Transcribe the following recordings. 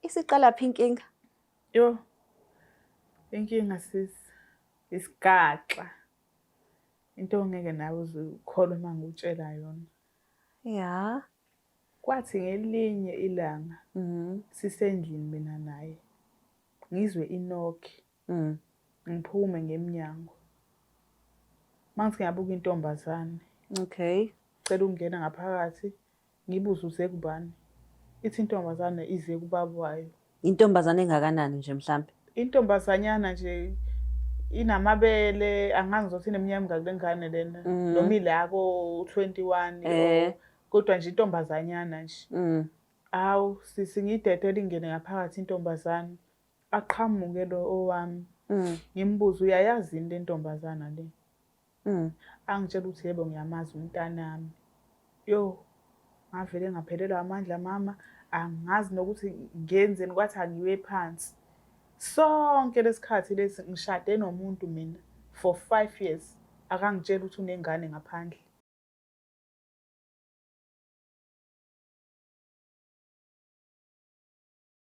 Isiqala phi inkinga? Yo. Inkinga sis isigaxa. Into ongeke nawe uzukholwa uma ngikutshela yona. Ya. Kwathi ngelinye ilanga mhm. sisendlini mina naye. Ngizwe inokhi. Mm. Ngiphume ngemnyango. Mangise ngiyabuka intombazane. Okay. Cela ukungena ngaphakathi ngibuze uze kubani. Ithi intombazane ize kubaba wayo. Intombazane engakanani nje mhlambe? Intombazanyana nje inamabele angazi ukuthi ineminyaka emingaki lengane lena mm. noma ilako 21 eh. kodwa nje intombazanyana nje. Mm. Awu sisi ngidedele ingene ngaphakathi intombazane. aqhamuke lo owami mm. ngimbuze uyayazi into entombazana le mm. angitshela ukuthi yebo ngiyamazi umntanami yo ngavele ngaphelelwa amandla mama angazi nokuthi ngenzeni kwathi angiwe phansi sonke lesikhathi lesi ngishade nomuntu mina for 5 years akangitshela ukuthi unengane ngaphandle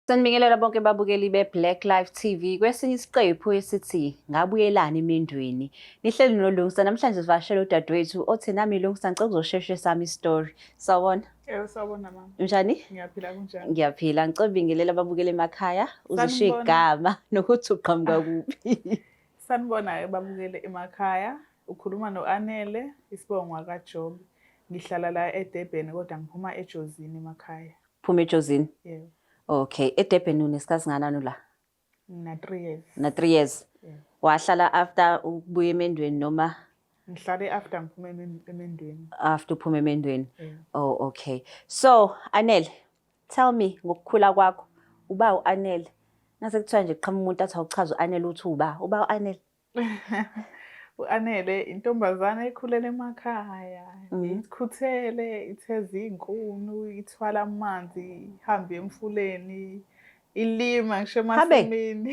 Sanibingelela bonke babukeli be-Black Life TV kwesinye isiqephu esithi ngabuyelani emendweni. Nihleli nolungisa namhlanje sivashele udadewethu othi nami lungisa ngicela ukuzosheshe sami story. Sawona. Eh sawona mama. Unjani? Ngiyaphila kunjani? Ngiyaphila. Ngicela ubingelela babukele emakhaya uzisho igama nokuthi uqhamuka kuphi. Sanibona babukele emakhaya. Ukhuluma noAnele isibongo kaJobi. Ngihlala la eDurban kodwa ngiphuma eJozini emakhaya. Phuma eJozini. Yeah. Okay, eDurban unesikhathi nganani la? Na 3 years. Na 3 years. Yeah. Wahlala after ukubuya emendweni noma ngihlale after ngiphume emendweni. After uphume emendweni. Yeah. Oh okay. So, Anele, tell me ngokukhula kwakho. Uba uAnele. Nase kuthiwa nje qhamumuntu athi awuchaza uAnele uthi uba. Uba uAnele. U-Anele intombazane ekhulele emakhaya mm. ikhuthele itheza iy'nkunu ithwala amanzi ihambe emfuleni ilima ngisho emasimini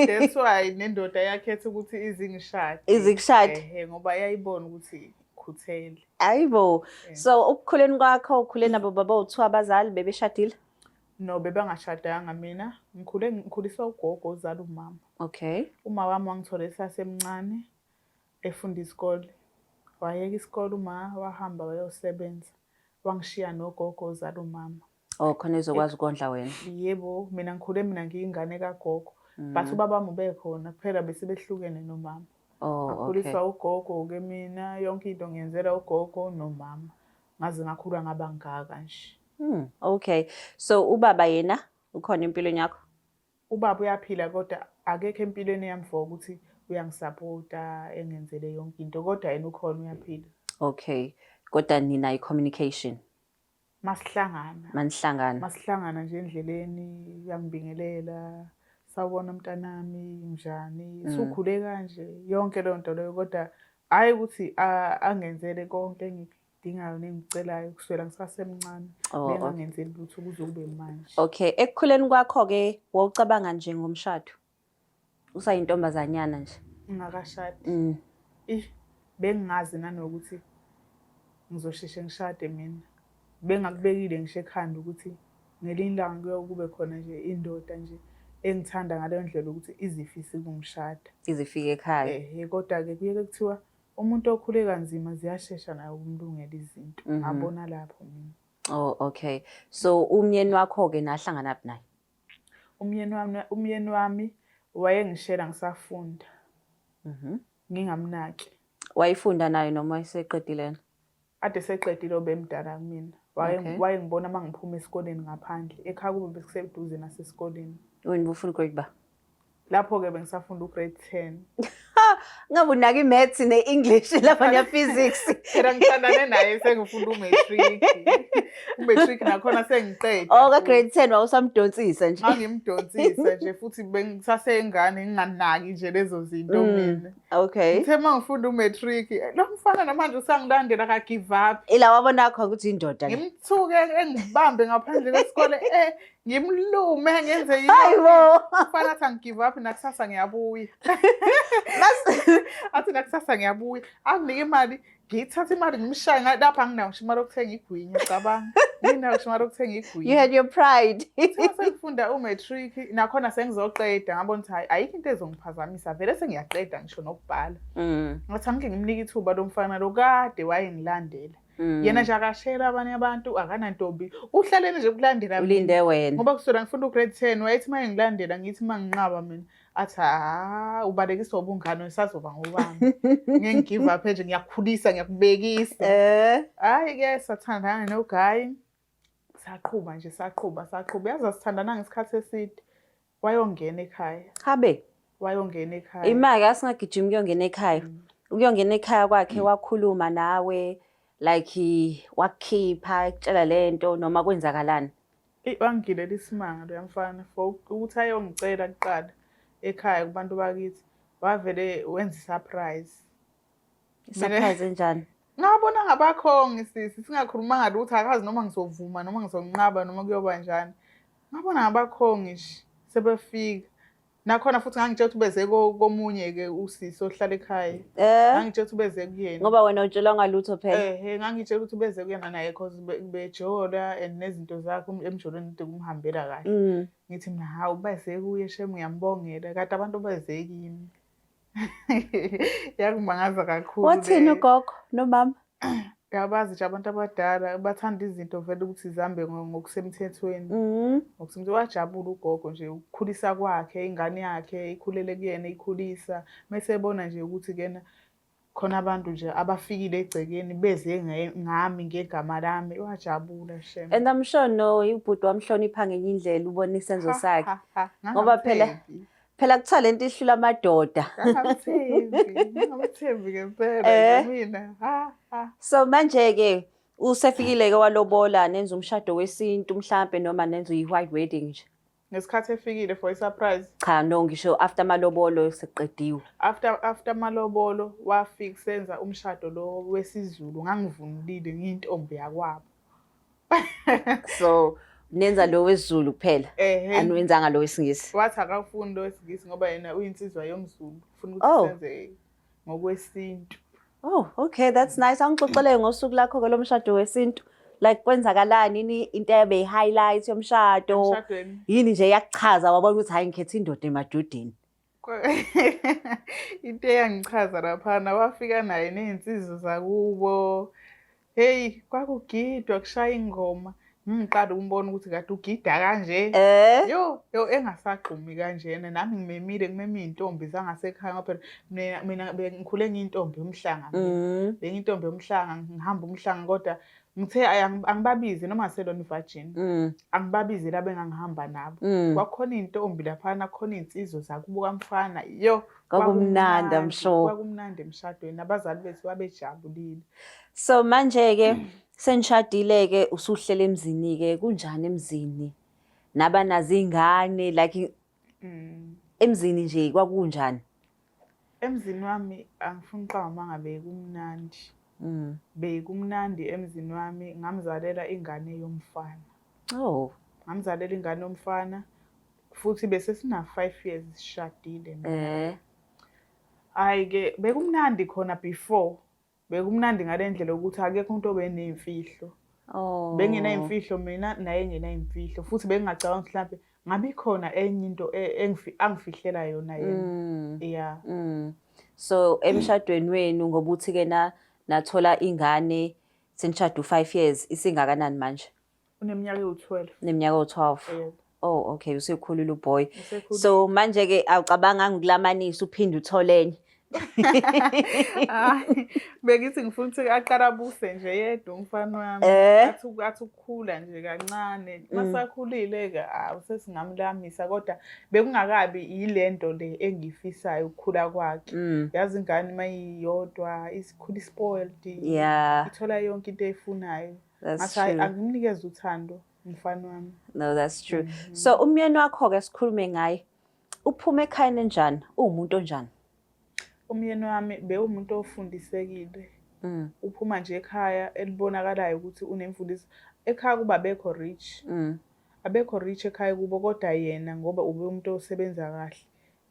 that's why nendoda yakhetha ukuthi izingishade izikushade ngoba yayibona ukuthi ukhuthele ayibo so ukukhuleni kwakho ukhule nabo baba uthiwa abazali bebeshadile No bebangashadanga mina ngikhule ngikhuliswa ugogo uzala umama. Okay. Uma wami wangithola esasemncane efunda isikole. Wayeka isikole uma wahamba wayosebenza. Wangishiya nogogo uzala umama. Oh khona ezokwazi ukondla wena. Yebo mina ngikhule mina ngiyingane kagogo. Mm. But ubaba wami ubekhona kuphela bese behlukene nomama. Oh okay. Akhuliswa ugogo ke mina yonke into ngiyenzela ugogo nomama. Ngaze ngakhula ngabangaka nje. Hmm, okay. So ubaba yena ukhona empilweni yakho? Ubaba uyaphila kodwa akekho empilweni yami for ukuthi uyangisapota engenzele yonke into kodwa yena ukhona uyaphila. Okay. Kodwa nina i-communication masihlangana. Manihlangana. Masihlangana nje endleleni uyangibingelela sawubona mntanami njani hmm. sukhule kanje yonke leyo nto leyo kodwa hhayi ukuthi angenzele konke engikho engidingayo nengicelayo kusukela ngisasemncane oh, bengangenzeli lutho kuze kube manje okay ekukhuleni kwakho-ke wawucabanga nje ngomshado usayintombazanyana nje ngingakashadi mm. ih bengingazi nanokuthi ngizosheshe ngishade mina bengakubekile ngisho ekhanda ukuthi ngelinye ilanga kuyokube khona nje indoda nje engithanda ngaleyo ndlela ukuthi izifise kumshada izifike ekhaya ehe kodwa-ke kuyeke kuthiwa Umuntu okhule kanzima ziyashesha naye ukumlungela izinto. Mhm. Ngabona lapho mina. Oh okay. So umyeni wakho ke nahlangana phi naye? Umyeni wami umyeni wami wayengishela ngisafunda. Mhm. Ngingamnaki. Wayifunda nayo noma iseqedile yena? Ade seqedile obemdala kumina. Okay. Wayengibona uma ngiphuma esikoleni ngaphandle. Ekhaya kube bekuseduze nasesikoleni. Wena ubufuna ugrade ba? Lapho-ke bengisafunda ugrade 10. Ngabe unaka i-maths ne-English lapha ne-physics. Phela ngithandane naye sengifunda u-matric. U-matric nakhona sengiqede. Oh, ka-grade 10 wawusamdonsisa nje. Ngangimdonsisa nje futhi bengisaseyingane nginganaki nje lezo zinto Mm. mina. Okay. Ngithe uma ngifunda umatric, lo mfana namanje usangilandela ka give up. Ila wabona khona ukuthi indoda. Ngimthuke engibambe ngaphandle kwesikole eh ngimlume ngenze yini. Hayibo. Mfana athi ngigive up nakusasa ngiyabuya. Athi nakusasa ngiyabuya. Anginike imali ngiyithatha imali ngimshaye lapha anginawo ngisho imali okuthenga igwinya cabanga nginawo ngisho imali okuthenga igwinya you had your pride sengifunda u-matric nakhona sengizoqeda ngabona ukuthi hayi ayikho into ezongiphazamisa vele sengiyaqeda ngisho nokubhala mm. ngathi angike ngimnike ithuba lo mfana lo kade wayengilandela Mm. yena nje akashela abanye abantu akanantombi uhlalele nje kulandela ulinde wena ngoba kusona ngifunda ugrade 10 wayethi uma engilandela ngithi uma nginqaba mina athi ha ubalekiswa ubungane usazoba ngubani ngeke ngigive up nje ngiyakhulisa ngiyakubekisa eh hayi ke sathandana no guy saqhuba nje saqhuba saqhuba yazi asithandana ngesikhathi eside wayongena ekhaya habe wayongena ekhaya imali asingagijima kuyongena ekhaya mm. ukuyongena ekhaya kwakhe mm. wakhuluma nawe like wakukhipha ekutshela lento noma kwenzakalani Eyi wangigilela isimanga loya mfana for ukuthi ayongicela kuqala ekhaya kubantu bakithi wavele wenza i-surprise surprise enjani ngabona ngabakhongi sisi singakhulumanga lutho akazi noma ngizovuma noma ngizonqaba noma kuyoba njani ngabona ngabakhongi nje sebefika nakhona futhi ngangitshela ukuthi ubeze komunye-ke usisi ohlala ekhaya eh. ngangitshela ukuthi ubeze kuyena ngoba wena utshelwa ngalutho phela ehe ngangitshela ukuthi ubeze kuyena naye cause bejola and nezinto zakhe um, emjolweni kude kumhambela kahle mm. ngithi mina hawu ubeze kuye shem uyambongela kade abantu beze kimi Yakumangaza kakhulu. Wathini ugogo nomama? Yabazi nje abantu abadala bathanda izinto vele ukuthi zihambe ngokusemthethweni. Mhm. Ngokusemthethweni wajabula ugogo nje ukukhulisa kwakhe ingane yakhe ikhulele kuyena ikhulisa. Mese ebona nje ukuthi kena khona abantu nje abafikile egcekeni beze ngami ngegama lami wajabula shem and i'm sure no ubhuti wamhlonipha ngenye indlela ubona isenzo sakhe ngoba phela phela kuthiwa lento ihlula amadoda ngamthembi ngempela eh. mina so manje-ke usefikile-ke walobola nenza umshado wesintu mhlampe noma nenza uyi-white wedding nje ngesikhathi efikile for i-surprise cha no ngisho after amalobolo sekuqediwe after after amalobolo wafika senza umshado lo wesizulu ngangivunulile ngiyintombi yakwabo so nenza lo wesizulu kuphela Ehhe. aniwenzanga lo wesingisi wathi akafuni lo wesilisa ngoba yena uyinsizwa yomzulu ufuna ukuthi Oh. senze ngokwesintu oh okay that's nice angixoxele ngosuku lakho ke lomshado wesintu like kwenzakalani yini into ebe yi-highlight yomshado emshadweni yini nje yakuchaza wabona ukuthi hayi ngikhetha indoda emadodeni into eyangichaza laphana wafika naye ney'nsizi zakubo heyi kwakugidwa kushaya ingoma ngiqala umbona ukuthi kade ugida kanje eh? yo yo engasagxumi kanjena nami ngimemile ngimeme iy'ntombi zangasekhaya ngoba phela mina bengikhule ngiyintombi yomhlanga mm. bengiyintombi yomhlanga ngihamba umhlanga kodwa ngithe angibabize noma ngaselona ivajini mm. angibabize laba engangihamba nabo mm. kwakhona iy'ntombi laphana khona iy'nsizwe zakubo kamfana yo kwakumnandi amsho kwakumnandi emshadweni abazali bethu babejabulile so manje-ke senishadile-ke usuhlela emzini-ke kunjani emzini naba nazo iy'ngane like Mm. Emzini nje kwakunjani? Emzini wami angifuni uqamba mangabe kumnandi. Mm. Bekumnandi emzini wami ngamzalela ingane yomfana. Oh. Ngamzalela ingane yomfana futhi bese sina 5 years sishadile. Eh. Hayi ke bekumnandi khona before Bekumnandi ngale ndlela ukuthi akekho umuntu obeney'mfihlo. Oh. Benginay'mfihlo mina naye engenay'mfihlo futhi bengingacabanga ukuthi mhlampe ngabe ikhona enye into e- engifi- angifihlela yona yena. Mm. Yeah. Mm. So emshadweni wenu ngoba uthi ke na nathola ingane senishada u5 years isingakanani manje? Uneminyaka ewu-12. Neminyaka ewu-12. Yebo. Oh okay usekhulile uboy. Usekhulile. So manje ke awucabanga ngikulamanisa uphinde uthole enye. Hayi, bengithi ngifuna ukuthi aqala abuse nje yedwa umfana wami Eh. athi uku- athi ukukhula nje kancane Mm. masakhulile-ke awu sesingamlamisa kodwa bekungakabi yile nto le engiyifisayo ukukhula kwakhe Mm. yazi ingane uma iyodwa isikhula ispoiled Yeah. ithola yonke into eyifunayo That's true. Angimnikeza uthando mfana wami. No, that's true. Mm -hmm. So umyeni wakho ke sikhulume ngaye. Uphuma ekhayeni enjani? Uwumuntu onjani? Umyeni wami bewumuntu ofundisekile. Mm. Uphuma nje ekhaya elibonakalayo ukuthi unemfundiso. Ekhaya kuba bekho rich. Mm. Abekho rich ekhaya kubo kodwa yena ngoba ube umuntu osebenza kahle.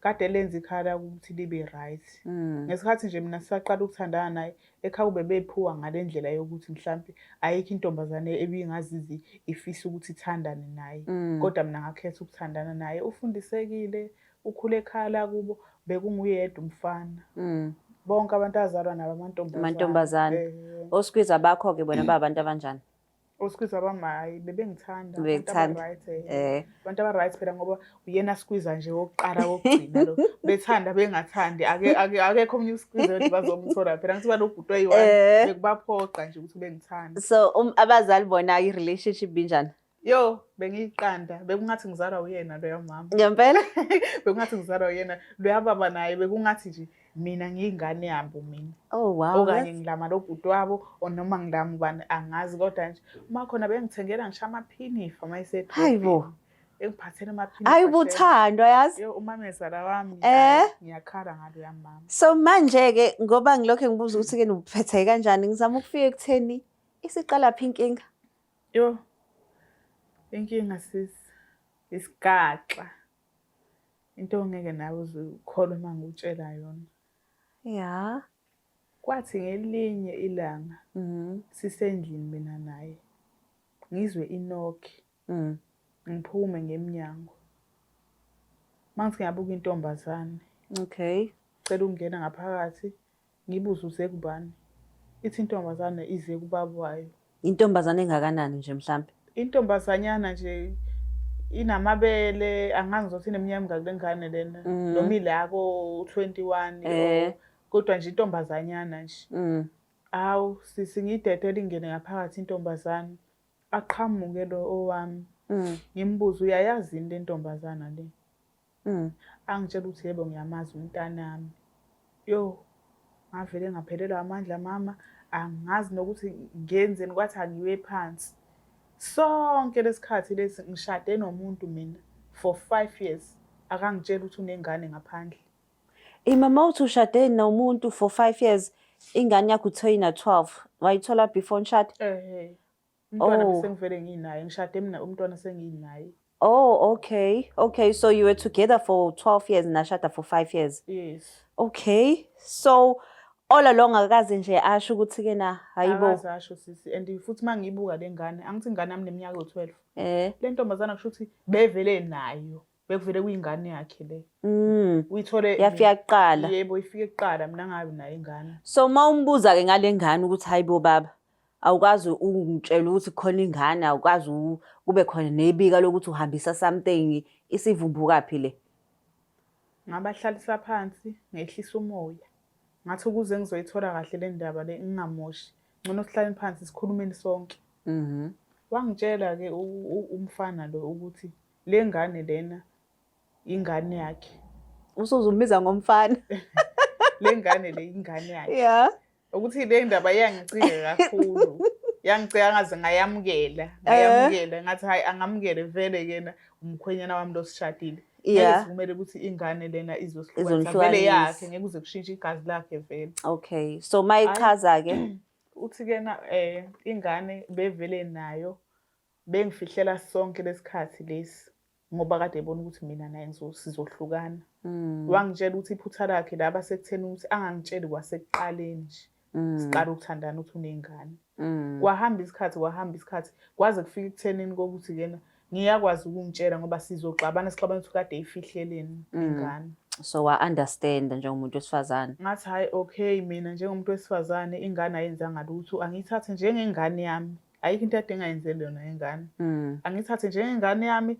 kade lenza ikhala ukuthi libe right mm. ngesikhathi nje mina sisaqala ukuthandana naye ekhaya kube bephuwa ngale ndlela yokuthi mhlawumbe ayikho intombazane ebingazizi ifisa ukuthi ithandane naye mm. kodwa mina ngakhetha ukuthandana naye ufundisekile ukhule ekhaya lakubo bekunguyedwa umfana mm. bonke abantu azalwa nabo amantombazane amantombazane eh. osikwiza bakho-ke bona babantu abanjani Oskwiza bami hayi bebengithanda abantu right eh. eh. Abantu aba right phela ngoba uyena skwiza nje wokuqala wokugcina lo. Bethanda bengathandi ake ake akekho omnye uskwiza ukuthi bazomthola phela ngithi balobhuti oyi one eh. bekubaphoqa nje ukuthi bengithanda. So um, abazali bona i relationship binjani? Yo bengiyiqanda bekungathi ngizalwa uyena lo yamama. Ngempela bekungathi ngizalwa uyena lo yababa naye bekungathi nje mina ngiyingane yabo mina oh wow okanye ngilama lo bhuti wabo or noma ngilama ubani angazi kodwa nje uma khona bengithengela ngisho amaphinifa uma isethi hayibo engiphathele amaphinifa hayi ubuthandwa yazi yo umamezala wami eh ngiyakhala ngalo yamama so manje ke ngoba ngilokho ngibuza ukuthi ke nibuphethe kanjani ngizama ukufika ekutheni isiqala phi inkinga yo inkinga sisi isigaxa into ongeke nawe uzikholwe uma ngikutshela yona ya kwathi ngelinye ilanga mm-hmm. sisendlini mina naye ngizwe inokhi mm. ngiphume ngemnyango mangisi ngiyabuka intombazane okay cela ukungena ngaphakathi Ngibuze uze kubani? Ithi intombazane ize kubaba wayo. Intombazane engakanani nje mhlampe? Intombazanyana nje inamabele angazi ngizothi ineminyaka emingaki le ngane lena mm. noma ilako u-twenty one eh. kodwa nje intombazanyana nje mm. hawu sisi ngiyidedele ingene ngaphakathi intombazane aqhamuke lo owami mm. ngimbuze uyayazi yini le ntombazana le Mm. Angitshela ukuthi yebo ngiyamazi umntanami. Yo ngavele ngaphelelwa amandla mama angazi nokuthi ngenzeni kwathi angiwe phansi. Sonke lesikhathi lesi ngishade nomuntu mina for 5 years akangitshela ukuthi unengane ngaphandle. Imama uthi ushade nomuntu for 5 years ingane yakho uthoyina 12 wayithola before nishade? Eh. umntwana oh. besengivele nginaye ngishade mina umntwana senginaye oh okay okay so you were together for 12 years nashada for 5 years yes okay so all along akaze nje asho ukuthi ke na hayibo akazasho sisi and futhi mangibuka lengane angithi ingane yami neminyaka yo12 eh lentombazana kusho ukuthi bevele nayo bekuvele kuyingane yakhe le mm. uyithole yafika kuqala yebo ifike kuqala mina ngabi nayo ingane so uma umbuza ke ngale ngane ukuthi hayibo baba awukwazi ukungitshela ukuthi khona ingane awukwazi kube khona nebika lokuthi uhambisa something isivumbuka phi le ngabahlalisa phansi ngehlisa umoya ngathi ukuze ngizoyithola kahle le ndaba le ngingamoshi ngcono sihlaleni phansi sikhulumeni sonke mhm wangitshela ke umfana lo ukuthi Lengane lena ingane yakhe. Usuzumbiza ngomfana. Lengane le ingane yakhe. Yeah. Ukuthi le ndaba iyangicika kakhulu. Yangicika ngaze ngayamukela. Ngayamukela ngathi hayi angamukele vele kena umkhwenyana wami losishadile. Yeah. Kumele ukuthi ingane lena izohlukanisa vele yakhe ngeke uze kushintshe igazi lakhe vele. Okay. So mayichaza ke uthi kena eh ingane bevele nayo Bengifihlela sonke lesikhathi lesi ngoba kade ebona ukuthi mina naye sizohlukana mm. wangitshela ukuthi iphutha lakhe laba sekutheni ukuthi angangitsheli kwasekuqaleni nje mm. siqala ukuthandana ukuthi unengane mm. kwahamba isikhathi kwahamba isikhathi kwaze kufika ekuthenini kokuthi kena ngiyakwazi ukungitshela ngoba sizoxabana sixabana ukuthi kade ifihleleni mm. ingane so wa-understand njengomuntu wesifazane ngathi hhayi okay mina njengomuntu wesifazane ingane ayenzanga lutho angiyithathe njengengane yami ayikho into adinga yenzele yona ingane mm. angithathe njengengane yami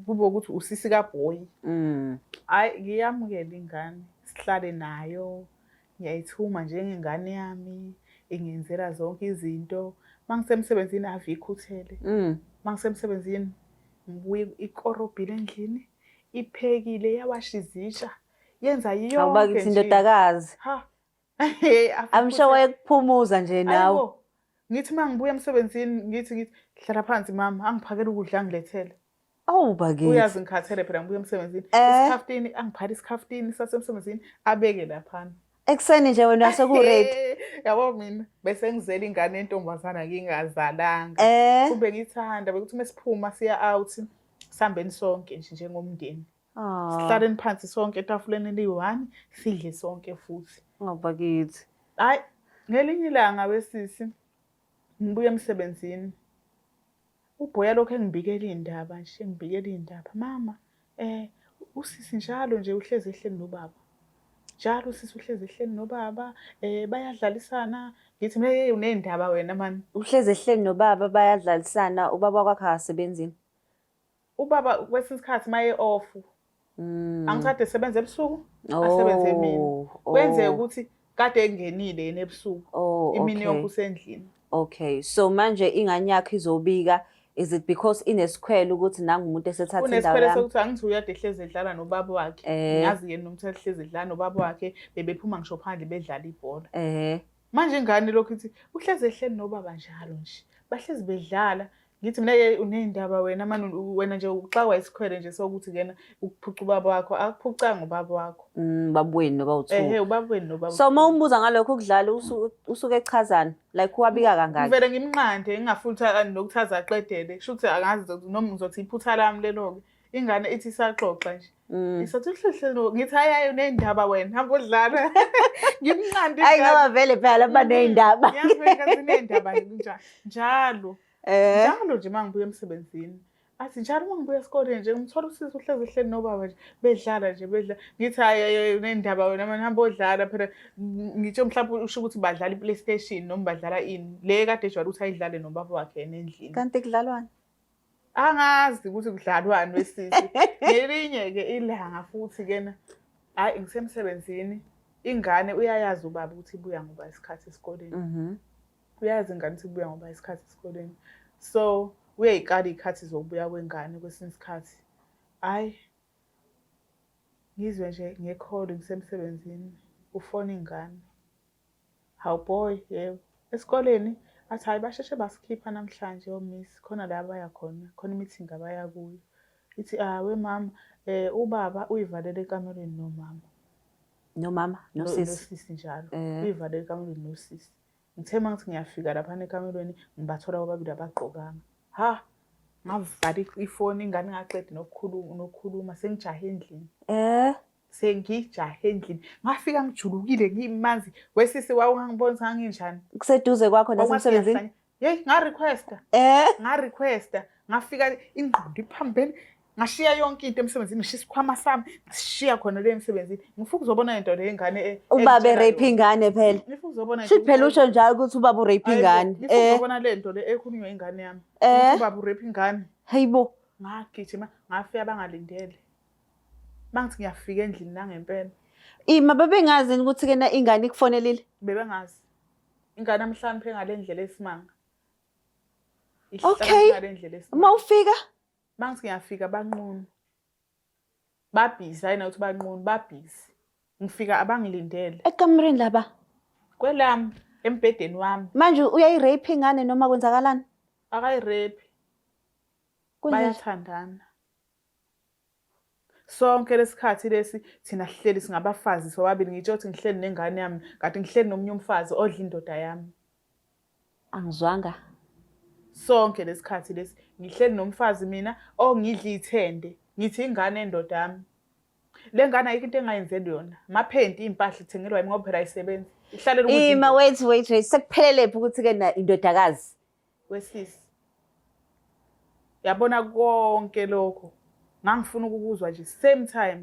kube ukuthi usisi kabhoyi mm. hayi ngiyamukela ingane sihlale nayo ngiyayithuma njengengane yami ingenzela zonke izinto mangisemsebenzini ave ikhuthele mm. mangisemsebenzini ngibuye ikorobhile endlini iphekile yawasha izitsha yenza yonke nje awubakithi indodakazi ha I'm sure wayekuphumuza nje nawe. Ngithi uma ngibuya emsebenzini ngithi ngithi hlala phansi mama angiphakele ukudla ngilethele. Awu bakithi. Uyazi ngikhathele phela ngibuya emsebenzini. Eh. Isikhaftini angiphathe isikhaftini sasemsebenzini abeke laphana. Ekuseni nje wena sekuready. Yabo mina bese ngizela ingane entombazana ngingazalanga. Eh. Kube ngithanda bekuthi mesiphuma siya out sihambeni sonke nje njengomndeni. Ah. Sihlaleni phansi sonke etafuleni eliyi-one sidle sonke futhi. Ngabakithi. Hayi ngelinye ilanga wesisi ngibuye emsebenzini. Ubhoya lokho engibikela iy'ndaba nje engibikela iy'ndaba. Mama um usisi njalo nje uhlezi ehleli nobaba. Njalo usisi uhlezi ehleli nobaba um bayadlalisana ngithi mina yeyi uney'ndaba wena mani. Uhlezi ehleli nobaba bayadlalisana ubaba kwakhe akasebenzi yini? Ubaba kwesinye isikhathi maye off. Mm. Angikade sebenze ebusuku, oh, asebenze emini. Oh. Kwenzeka ukuthi kade engenile yena ebusuku. Oh, imini yonke usendlini. Okay. So manje ingane yakhe izobika is it because inesikhwele ukuthi nangu umuntu esethatha indawo yami unesikhwele sokuthi angithi uyade ehlezi edlala nobaba wakhe eh. ngazi yena umuntu ehlezi edlala nobaba wakhe bebephuma ngisho phandle bedlala ibhola eh manje ingane lokhu ithi uhlezi ehleli nobaba njalo nje bahlezi bedlala ngithi mina ke uneyindaba wena mani wena nje uxakwa isikhwele nje sokuthi kena ukuphuca ubaba wakho akuphucanga ubaba wakho mm, baba wenu noba uthu ehe ubaba wenu noba so uma umbuza ngalokho ukudlala usuke echazana like wabika kangaka ngivele ngimnqande ngingafutha nokuthi azaqedele shuthi angazi noma ngizothi iphutha lami lelo ke ingane ithi isaxoxa nje Mm. Ngisathi uhlehlelo ngithi hayaye unendaba wena hamba udlala ngimnqandi Hayi ngaba vele phela mm. banezindaba Ngiyabheka zinendaba nje njalo eh. njalo nje mangibuya emsebenzini athi njalo uma ngibuya esikoleni nje ngimthola usisi uhlezi ehleli nobaba nje bedlala nje bedla ngithi hayi unendaba wena manje hamba odlala phela ngitsho mhlawumbe usho ukuthi badlala i-playstation noma badlala ini le kade ejwayele ukuthi ayidlale nobaba wakhe yena endlini kanti kudlalwani angazi ukuthi kudlalwani wesisi ngelinye-ke ilanga futhi kena hhayi ngisemsebenzini ingane uyayazi ubaba ukuthi ibuya ngoba isikhathi esikoleni mhm. uyayazi ingane ukuthi ibuya ngoba isikhathi esikoleni so uyayikala iy'khathi zokubuya kwengane kwesinye isikhathi hhayi ngizwe nje ngekholo ngisemsebenzini ufona ingane Hawu boy, yebo. Esikoleni athi hayi basheshe basikhipha namhlanje omiss khona la abaya khona, khona i-meeting abaya kuyo. Ithi ah we mama eh ubaba uyivalele ekamerweni nomama. Nomama No- nosisi. Nosisi njalo. Eh. Uyivalele ekamerweni nosisi. Ngithe uma ngithi ngiyafika laphana ekamerweni ngibathola bobabili abagqokanga. Ha! Ngavala i- ifoni ingane ingaqedi nokukhuluma nokukhuluma sengijahe endlini. Eh. sengijahe endlini ngafika ngijulukile ngimanzi wesisi wawungangiboni sanginjani kuseduze kwakho nasemsebenzini yeyi ngarequesta eh ngarequesta ngafika ingqondo iphambene ngashiya yonke into emsebenzini ngishiya isikhwama sami ngishiya khona le emsebenzini ngifuna ukuzobona into le ingane e- ubaba erape ingane phela ngifuna ukuzobona shit phela usho njalo ukuthi ubaba urape ingane ngifuna eh. ukuzobona le nto le ekhulunywa ingane yami eh. ubaba urape ingane hayibo ngagijima ngafika bangalindele Bangithi ngiyafika endlini nangempela. Ima babengazi yini ukuthi kena ingane ikufonelile? Bebengazi. Ingane amhlanje engale ndlela esimanga. Okay. Uma ufika? Bangithi ngiyafika banqunu. Babhizi hayi nawuthi banqunu babhizi. Ngifika abangilindele. Ekamereni laba. Kwelami embhedeni wami. Manje uyayirape ingane noma kwenzakalani? Akayirape. Bayathandana. Sonke lesikhathi lesi thina sihleli singabafazi sobabili ngitsho ukuthi ngihleli nengane yami kanti ngihleli nomunye umfazi odla indoda yami. Angizwanga. Sonke lesikhathi lesi ngihleli nomfazi mina ongidla ithende ngithi ingane endoda yami. Le ngane ayikho into engayenzeli yona. Maphenti impahla ithengelwa yimi ngoba phela ayisebenzi. Ihlalela ukuthi Ima wait wait wait sekuphelele phi ukuthi ke na indodakazi wesisi yabona konke lokho ngangifuna ukukuzwa nje same time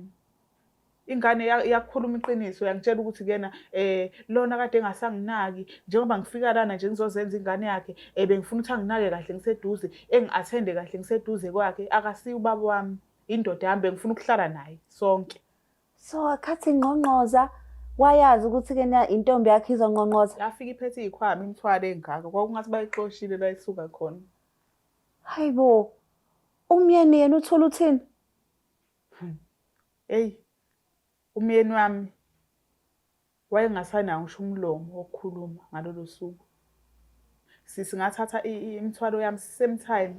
ingane iyakhuluma iqiniso yangitshela ukuthi kuyena eh lona kade engasanginaki njengoba ngifika lana nje ngizozenza ingane yakhe eh bengifuna ukuthi anginake kahle ngiseduze engiathende kahle ngiseduze kwakhe akasiyi ubaba wami indoda yami bengifuna ukuhlala naye sonke so akhathi ngqongqoza wayazi ukuthi ke na intombi yakhe izonqonqoza yafika iphethe ikhwama imthwale engaka kwakungathi bayixoshile layisuka khona hayibo umyeni yena uthola uthini hey umyeni wami Wayengasanawo ngisho umlomo wokukhuluma ngalolo suku. Sisi ngathatha imithwalo yami same time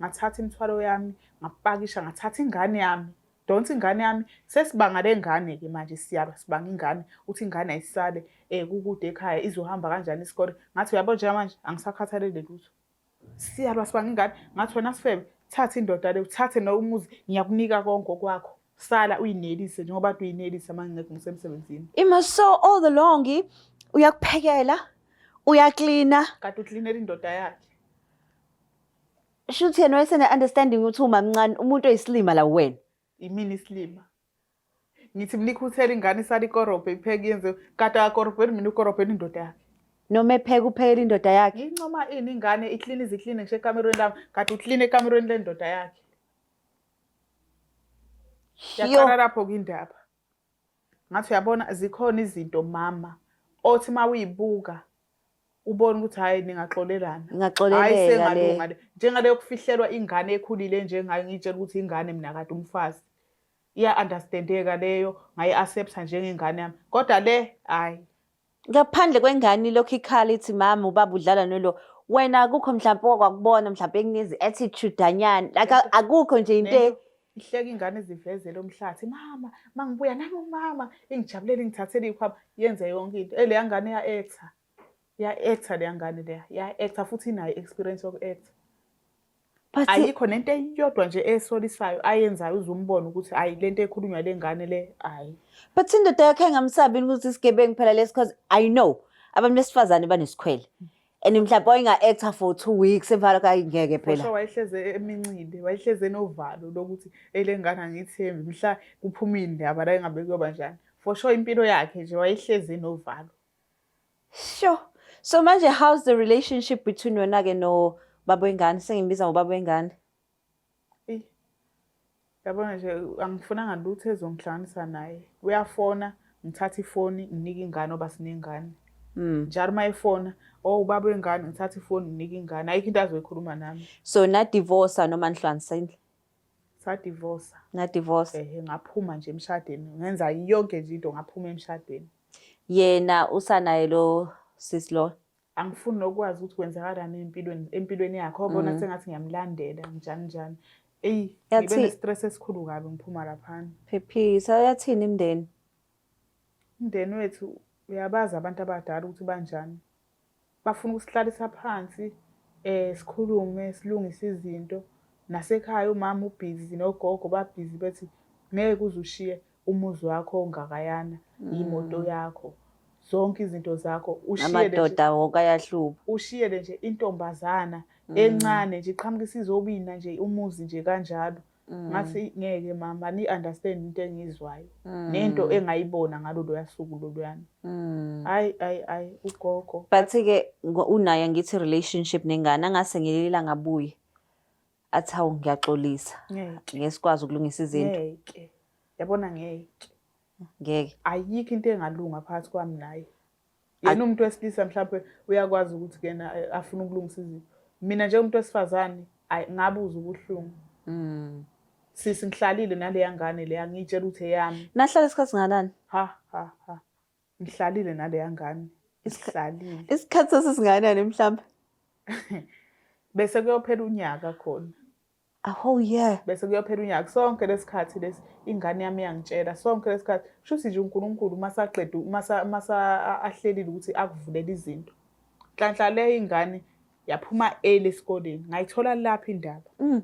ngathatha imithwalo yami ngapakisha ngathatha ingane yami donsa ingane yami sesibanga lengane ke manje siyaba sibanga ingane uthi ingane ayisale eh kukude ekhaya izohamba kanjani isikole ngathi uyabo njengamanje angisakhathalele lutho Siyalwa sibanga ingane ngathi wena sifebe thatha indoda le uthathe no umuzi ngiyakunika konke okwakho sala uyinelise njengoba kade uyinelisa manje ngeke ngisemsebenzini Ima so all the long uyakuphekela uyaklina kade uklinela indoda yakhe shuthi yena wayesene understanding ukuthi umamncane umuntu oyisilima la wena yimini isilima ngithi mnikhuthela ingane isala ikorobhe ipheke yenze kade akakorobheli mina ukorobhela indoda yakhe noma epheka uphekela indoda yakhe ngincoma ini ingane iklini iziklini ngisho ekamerweni lami kade uklini ekamerweni lendoda yakhe yaqala lapho kwindaba ngathi uyabona zikhona izinto mama othi uma uyibuka ubona ukuthi hhayi ningaxolelana hayi sengalunga le njengale yokufihlelwa ingane ekhulile njengayo ngiyitshela ukuthi ingane mina kade umfazi iya understandeka leyo ngayi accept njengengane yami kodwa le hayi ngaphandle kwengane lokho ikhala ithi mama ubaba udlala nolo wena akukho mhlawumbe okwakubona mhlawumbe ekunezi attitude anyana like akukho nje into e- ihleka ingane izivezele umhlathi mama mangibuya nami umama ingijabulela ingithathele ikhwama yenze yonke into eleya ngane ya actor Ya-actor leya ngane leya ya-actor futhi inayo i-experience yoku-actor But ayikho nento eyodwa nje esolisayo ayenzayo uzumbona ukuthi hayi lento ekhulunywa lengane le hayi but indoda yakhe engamsabini ukuthi isigebengu phela lesi cause i know abantu besifazane banesikhwele and mhlawumbe wayenga-actor for two weeks evala kayi ngeke Osho phela wayehleze emincile wayehleze enovalo lokuthi elengane angiyithembi mhla kuphumile indaba la engabe kuyoba njani for sure impilo yakhe nje wayehleze enovalo Sho. So manje how's the relationship between wena ke no baba wengane sengimbiza ngobaba wengane? Eyi. Yabona nje angifunanga lutho ezongihlanganisa naye. Uyafona, ngithatha ifoni, nginika ingane oba sinengane. Mm. Njalo uma efona, oh ubaba wengane ngithatha ifoni nginika ingane. Ayikho into azoyikhuluma nami. So na divorce noma nihlanganisile? sadivosa nadivosa ehe ngaphuma nje emshadweni ngenza yonke nje into ngaphuma emshadweni yena usanaye lo sis lo angifuni nokwazi ukuthi kwenzakalani empilweni empilweni yakhe obona mm. sengathi ngiyamlandela njani njani eyi ngibe ne-stress esikhulu kabi ngiphuma laphana phephisa uyathini imndeni Umndeni wethu uyabazi abantu abadala ukuthi banjani. Bafuna ukusihlalisa phansi eh sikhulume silungise izinto. Nasekhaya umama ubhizi nogogo babhizi bethi ngeke uze ushiye umuzi wakho ongakayana, imoto mm. yakho, zonke izinto zakho amadoda wonke ayahluba. Ushiyele nje intombazana mm. encane nje iqhamuka isizobina nje umuzi nje kanjalo. Mm. ngathi ngeke mama ni understand into engizwayo mm. nento engayibona ngalolu yasuku loluyana mm. hayi hayi hayi ugogo but ke unaye ngithi relationship nengane angase ngilila ngabuye athi hawu ngiyaxolisa ngesikwazi ukulungisa izinto ngeke yabona ngeke ngeke ayikho into engalunga phakathi kwami naye yena umuntu wesilisa mhlawumbe uyakwazi ukuthi kena eh, afuna ukulungisa izinto mina njengomuntu wesifazane ayi ngabuza ubuhlungu mm. sisi ngihlalile naleya ngane leya ngiyitshela ukuthi eyami nahlala isikhathi singanani ha ha ha ngihlalile naleya ngane isihlalile isikhathi sesinganani mhlawumbe bese kuyophela unyaka khona a whole year bese kuyophela unyaka sonke lesikhathi lesi ingane yami yangitshela sonke lesikhathi kusho ukuthi nje uNkulunkulu uma saqeda uma uma ahlelile ukuthi akuvulela izinto nhlanhla le ingane yaphuma early esikoleni ngayithola lapha indaba mm.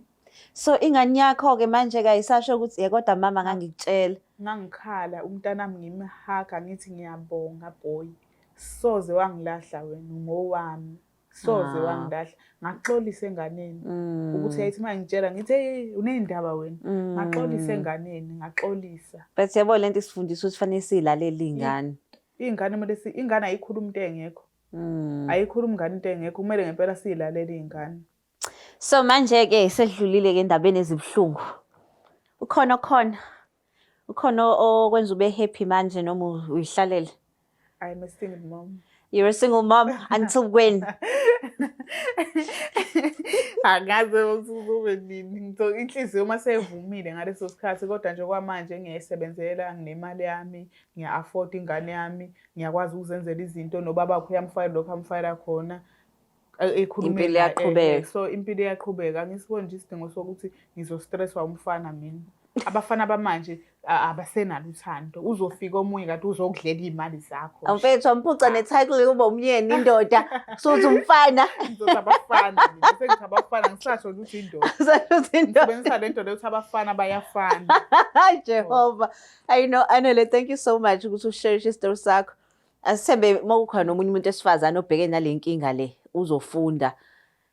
so ingane yakho ke manje kayisasho ukuthi ye kodwa mama ngangikutshela ngangikhala umntanami ngimhaga ngithi ngiyabonga boy soze wangilahla wena ngowami soze ah. wangidahla ngaxolisa enganeni mm. ukuthi yayithi uma ngitshela ngithe uney'ndaba wena mm. ngaxolisa enganeni ngaxolisa but yabo le nto isifundisa ukuthi fanele siyilalele iy'ngane iy'ngane kumele ingane ayikhuluma into engekho mm. ayikhuluma ingane into engekho kumele ngempela siyilalele iy'ngane so manje-ke sedlulile-ke endabeni ezibuhlungu ukhona okhona Ukhona okwenza ube happy manje noma uyihlalele? I'm a single mom. You're a single mom until when? Angazi uzobe nini. Ngitho inhliziyo uma sevumile ngaleso sikhathi kodwa nje kwamanje ngiyayisebenzela nginemali yami, ngiya afford ingane yami, ngiyakwazi ukuzenzela izinto nobaba wakho uyamfayela lokho amfayela khona. impilo iyaqhubeka so impilo iyaqhubeka angisiboni nje isidingo sokuthi ngizostresswa umfana mina abafana bamanje abasenalo uthando uzofika omunye kade uzokudlela iy'mali zakho mfethu amphuca ne-title yokuba umyeni indoda suthi umfana ngizothi abafana sengithi abafana ngisasho ukuthi indoda sebenzisa le ndoda yokuthi abafana bayafana jehova i know anele thank you so much ukuthi usherishe isitori sakho asithembe uma kukhona omunye umuntu esifazane obheke nale nkinga le uzofunda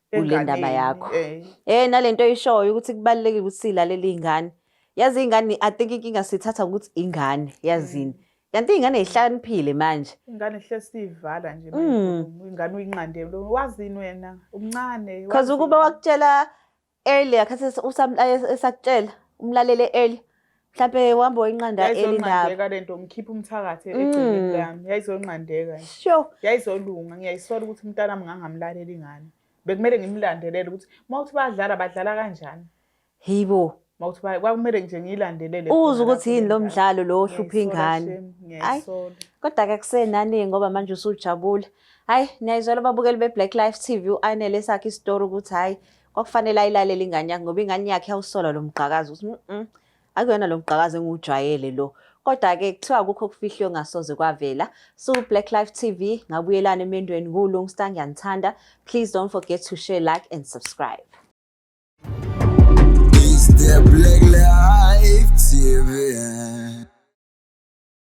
kule ndaba yakho eh. eh nale nto oyishoyo ukuthi kubalulekile ukuthi silalele iy'ngane yazi iy'ngane i think inkinga sithatha ngokuthi ingane yazini mm. kanti iy'ngane yihlakaniphile manje ingane hlezi siyivala nje mm. ingane uyinqandele wazini wena umncane because ukuba wakutshela earlier khathi esakutshela umlalele earlier mhlampe uhamba oyinqanda elindaba lento ngikhipha umthakathi mm. egcineni lami yayizonqandeka sho yayizolunga ngiyayisola ukuthi umntana wami ngangamlaleli ngani bekumele ngimlandelele ukuthi uma uthi badlala badlala kanjani hibo uma uthi kwakumele nje ngiyilandelele uze ukuthi yini lo mdlalo lo ohlupha ingane hayi kodwa ke kusenani ngoba manje usujabule hayi niyayizwela ababukeli be-black life tv u-anele sakhe isitori ukuthi hhayi kwakufanele ayilalele ingane yakhe ngoba ingane yakhe yawusola lo mgqakazi ukuthi mm akuyona lo mgqakazi engiwujwayele lo kodwa-ke kuthiwa kukho okufihlwe ngasoze kwavela siwu-black life tv ngabuyelana emendweni nguwulungstar ngiyanithanda please don't forget to share like and subscribe It's the Black Life TV.